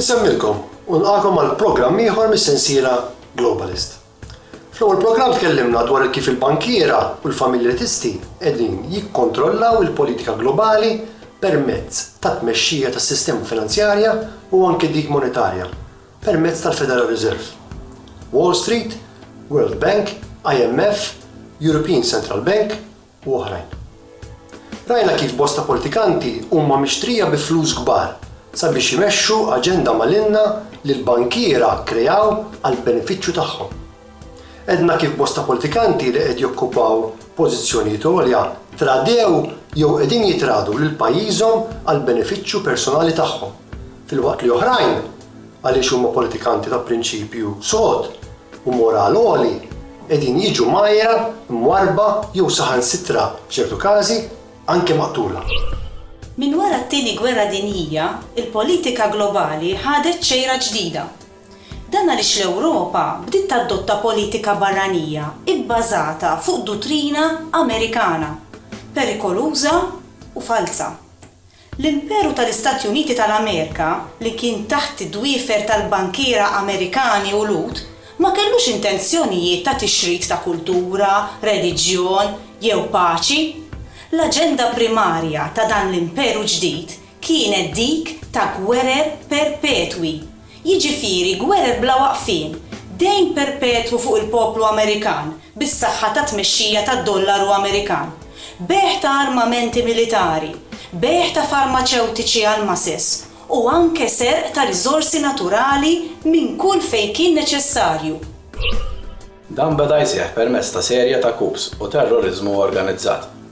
Insemmilkom u nilqagħkom għal programm ieħor mis-sensiela Globalist. Fl-ewwel programm tkellimna dwar kif il-bankiera u l-familjetisti qegħdin jikkontrollaw il-politika globali permezz tat-tmexxija tas-sistema finanzjarja u anke dik monetarja permezz tal-Federal Reserve, Wall Street, World Bank, IMF, European Central Bank u oħrajn. Rajna kif bosta politikanti huma mixtrija bi flus kbar sabiex imexxu aġenda malinna li l-bankiera kreaw għall-benefiċċju tagħhom. Għedna kif bosta politikanti li qed jokkupaw pożizzjonijiet għolja tradew jew qegħdin jitradu lil pajjiżhom għall-benefiċċju personali tagħhom. filwaqt li oħrajn, għaliex huma politikanti ta' prinċipju sod u moral għoli, qegħdin jiġu mgħajjra, mwarrba jew saħansitra, f'ċertu każi, anke maqtula. Minn wara t-Tieni Gwerra Dinjija, il-politika globali ħadet xejra ġdida. Dan għaliex l-Ewropa bdiet tadotta politika barranija bbażata fuq duttrina Amerikana, perikoluża u falza. L-Imperu tal-Istati Uniti tal-Amerika, li kien taħt id-dwiefer tal-bankiera Amerikani u Lhud, ma kellux intenzjonijiet ta' tixrid ta' kultura, reliġjon, jew paċi. L-aġenda primarja ta' dan l-imperu ġdid kienet dik ta' gwerer perpetwi. Jiġifieri gwerer bla waqfien, dejn perpetwu fuq il-poplu Amerikan bis-saħħa tat-tmexxija tad-dollaru Amerikan, bejgħ ta' armamenti militari, bejgħ ta' farmaċewtiċi għall-masses u anke serq ta' riżorsi naturali minn kull fejn kien neċessarju. Dan beda jseħħ permezz ta' serje ta' coups u terroriżmu organizzat,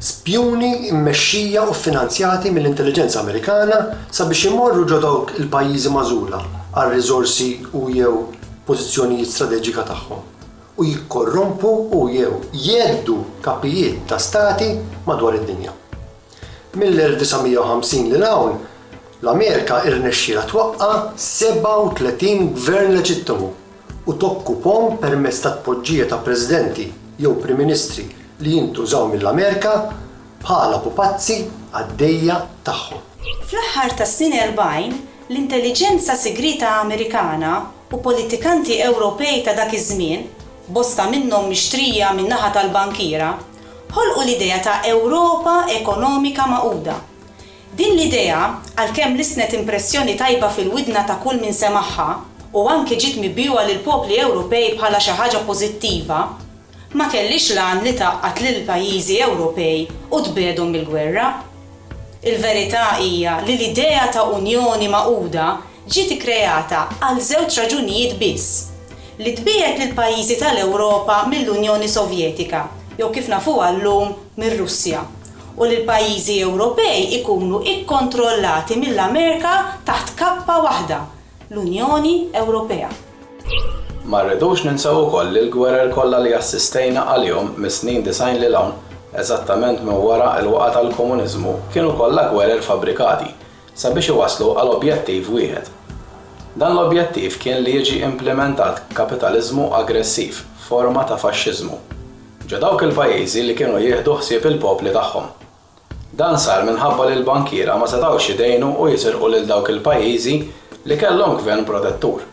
spjuni mmexxija u ffinanzjati mill-intelliġenza Amerikana sabiex imorru ġo dawk il-pajjiżi magħżula għal riżorsi u, jew pożizzjonijiet strateġika tagħhom u jikkorrompu u, jew jgħeddu kapijiet ta' stati madwar id-dinja. Mill-1950 lil hawn, l-Amerika irnexxielha twaqqa' 37 gvern leġittimu u tokkupahom permezz ta' tpoġġija ta' Presidenti jew Prim Ministri li jintużaw mill-Amerika bħala pupazzi għad-dejja tagħhom. Fl-aħħar tas-snin erbgħin, l-intelliġenza sigrieta Amerikana u politikanti Ewropej ta' dak iż-żmien, bosta minnhom mixtrija min-naħa tal-bankiera, ħolqu l-idea ta' Ewropa ekonomika magħquda. Din l-idea, għalkemm lissnet impressjoni tajba fil-widna ta' kull min semagħha u anki ġiet mibjugħa lill-popli Ewropej bħala xi ħaġa pożittiva, ma kellhiex l-għan li tgħaqqad lill-pajjiżi Ewropej u tbiegħdhom mill-gwerra. Il-verità hija li l-idea ta' Unjoni magħquda ġiet ikkreata għal żewġ raġunijiet biss, li tbiegħed lill-pajjiżi tal-Ewropa mill-Unjoni Sovjetika, jew kif nafuha llum, mir-Russja, u li l-pajjiżi Ewropej ikunu kkontrollati mill-Amerika taħt kappa waħda, l-Unjoni Ewropea. Ma rridux ninsew ukoll li l-gwerer kollha li assistejna għalihom mis-snin disgħin 'l hawn, eżattament minn wara l-waqgħa tal-komuniżmu, kienu kollha gwerer fabbrikati, sabiex iwasslu għal objettiv wieħed. Dan l-objettiv kien li jiġi implimentat kapitaliżmu aggressiv, forma ta' faxxiżmu, ġo dawk il-pajjiżi li kienu jieħdu ħsieb il-popli tagħhom. Dan sar minħabba li l-bankiera ma setgħux jidgħinu u jisirqu lil dawk il-pajjiżi li kellhom gvern protettur.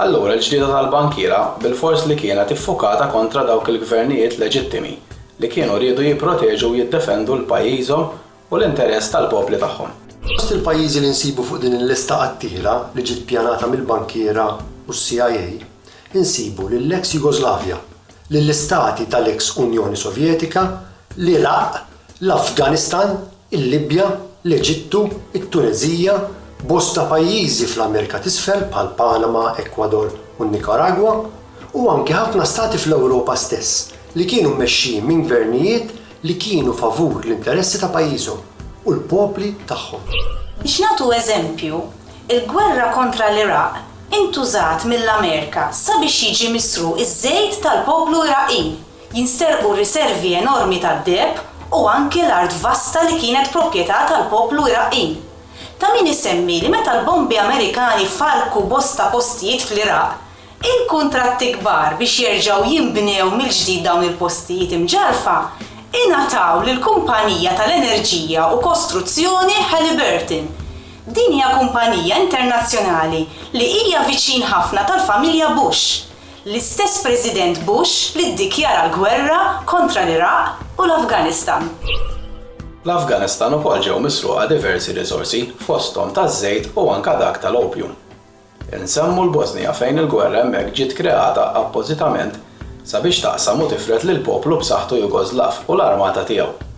Allura l-ġlieda tal-bankiera bilfors li kienet iffukata kontra dawk il-gvernijiet leġittimi li kienu riedu jipproteġu u jiddefendu 'l pajjiżhom u l-interess tal-popli tagħhom. Fost il-pajjiżi li nsibu fuq din il-lista qattiela li ġiet ppjanata mill-bankiera u s-CIA nsibu lill-eks Jugoslavja, lill-istati tal-eks Unjoni Sovjetika, l-Iraq, l-Afganistan, il-Libja, l-Eġittu, it-Tuneżija, bosta pajjiżi fl-Amerika t'Isfel bħal Panama, Ekwador u n-Nikaragwa, u anki ħafna stati fl-Ewropa stess li kienu mmexxijin minn gvernijiet li kienu favur l-interessi ta' pajjiżhom u l-popli tagħhom. Biex nagħtu eżempju, il-gwerra kontra l-Iraq intużat mill-Amerika sabiex jiġi misruq iż-żejt tal-poplu Iraqin, jinsterqu riservi enormi tad-deheb u anki l-art vasta li kienet proprjetà tal-poplu Iraqin. Ta' min isemmi li meta l-bombi Amerikani farrku bosta postijiet fl-Iraq, Il-kuntratti kbar biex jerġgħu jinbnew mill-ġdid dawn il-postijiet imġarrfa ingħataw lill-kumpanija tal-enerġija u kostruzzjoni Halliburton. Din hija kumpanija internazzjonali li hija viċin ħafna tal-familja Bush, l-istess President Bush li ddikjara l-gwerra kontra l-Iraq u l-Afganistan. L-Afganistan ukoll ġew misruqa diversi riżorsi, fosthom taż-żejt u anke dak tal-opium. Insemmu l-Bosnija fejn il-gwerra hemmhekk ġiet kreata appożitament sabiex taqsam u tifred lill-poplu b'saħħtu Jugoslav u l-armata tiegħu.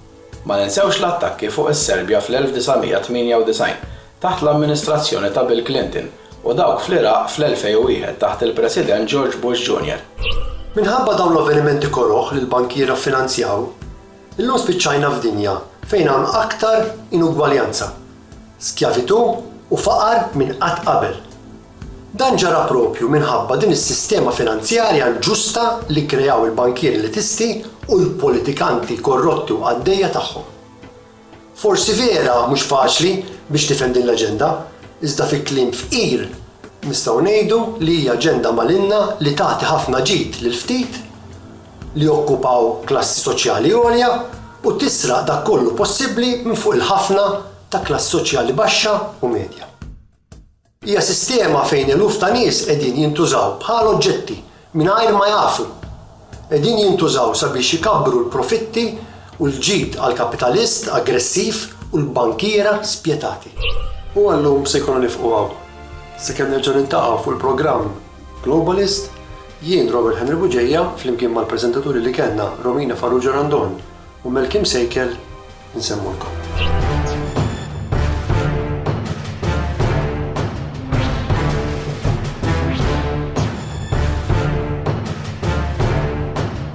Ma ninsewx l-attakki fuq is-Serbja fl-1998 taħt l-amministrazzjoni ta' Bill Clinton u dawk fl-Iraq fl-2001 taħt il-President George Bush Junior. Minħabba dawn l-avvenimenti koroh li l-bankiera ffinanzjaw, Illum spiċċajna f'dinja fejn hawn aktar inugwaljanza, skjavitù u faqar minn qatt qabel. Dan ġara proprju minħabba din is-sistema finanzjarja inġusta li kkreaw il-bankieri elitisti u l-politikanti korrotti u qaddejja tagħhom. Forsi vera mhux faċli biex tifhem din l-aġenda, iżda fi kliem fqir nistgħu ngħidu li hija aġenda malinna li tagħti ħafna ġid lil ftit, li jokkupaw klassi soċjali għolja u tisraq dak kollu possibbli minn fuq il-ħafna ta' klassi soċjali baxxa u medja. Hija sistema fejn eluf ta' nies qegħdin jintużaw bħal oġġetti mingħajr ma jafu. Qegħdin jintużaw sabiex ikabbru l-profitti u l-ġid għall-kapitalist aggressiv u l-bankiera spjetati. U għal-lum se jkollna nieqfu hawn. Sakemm nerġgħu niltaqgħu fuq il-programm. Globalist, Jien, Robert Henry Bugeja, flimkien mal-preżentaturi li kellna, Romina Farrugia Randon u Mel Kim Sejkel, insemmulkom.